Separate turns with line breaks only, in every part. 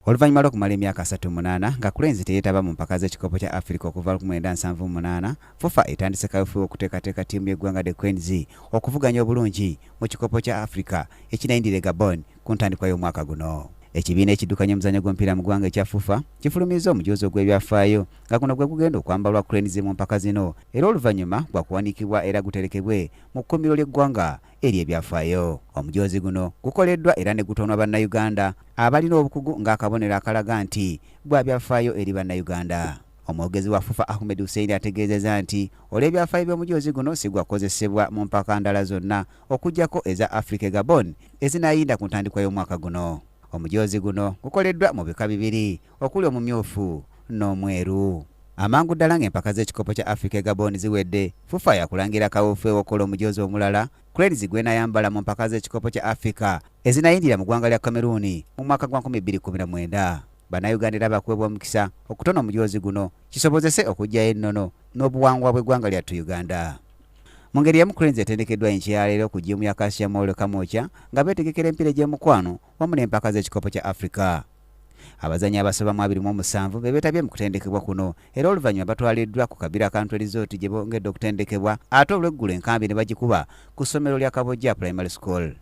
Oluvannyuma lw'okumala emyaka asatu mu munaana nga Cranes teyeetaba mu mpaka z'ekikopo kya Afrika okuva lukumi lwenda nsanvu mu munaana, FUFA etandise kaweefube w'okuteekateeka ttiimu y'eggwanga The Cranes okuvuganya obulungi mu kikopo kya Afrika ekinayindira e Gabon ku ntandikwa y'omwaka guno. Ekibiina ekiddukanya omuzannyo gw'omupiira mu ggwanga ekya FUFA kifulumizza omujoozi ogw'ebyafaayo nga guno gwe gugenda okwambalwa Cranes mu mpaka zino era oluvannyuma gwa kuwanikibwa era guterekebwe mu kkuumiro ly'eggwanga eri ebyafaayo. Omujoozi guno gukoleddwa era ne gutoonwa Bannayuganda abalina obukugu ng'akabonero akalaga nti gwa byafaayo eri Bannayuganda. Omwogezi wa FUFA Ahmed Hussein ategeezeza nti olw'ebyafaayo by'omujoozi guno si gwa kukozesebwa mu mpaka ndala zonna okuggyako eza Afrika e Gabon ezinaayinda ku ntandikwa y'omwaka guno. Omujoozi guno gukoleddwa mu bika bibiri okuli omumyufu n'omweru. Amangu ddala ng'empaka z'ekikopo kya Africa e Gabon ziwedde, FUFA yakulangira kawuufu ew'okukola omujoozi omulala Cranes gwenayambala mu mpaka z'ekikopo kya Africa ezinayindira mu ggwanga lya Cameroon mu mwaka gwa 2019. Bannayuganda era bakuwebwa omukisa okutona omujoozi guno kisobozese okuggyayo ennono n'obuwangwa bw'eggwanga lyattu Uganda. Mu ngeri y'emu Cranes etendekeddwa enkya ya leero ku jjiimu ya Kasia Mall Kamwokya nga beetegekera empiira egy'omukwano wamu n'empaka z'ekikopo kya Africa. Abazannyi abasoba mu abiri mu omusanvu be beetabye mu kutendekebwa kuno era oluvannyuma batwaliddwa ku Kabira Country Resort gye bongedde okutendekebwa ate olweggulo enkambi ne bagikuba ku ssomero lya Kabojja Primary School.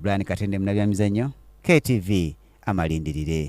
Brian Katende munabyamizannyo KTV amalindirire.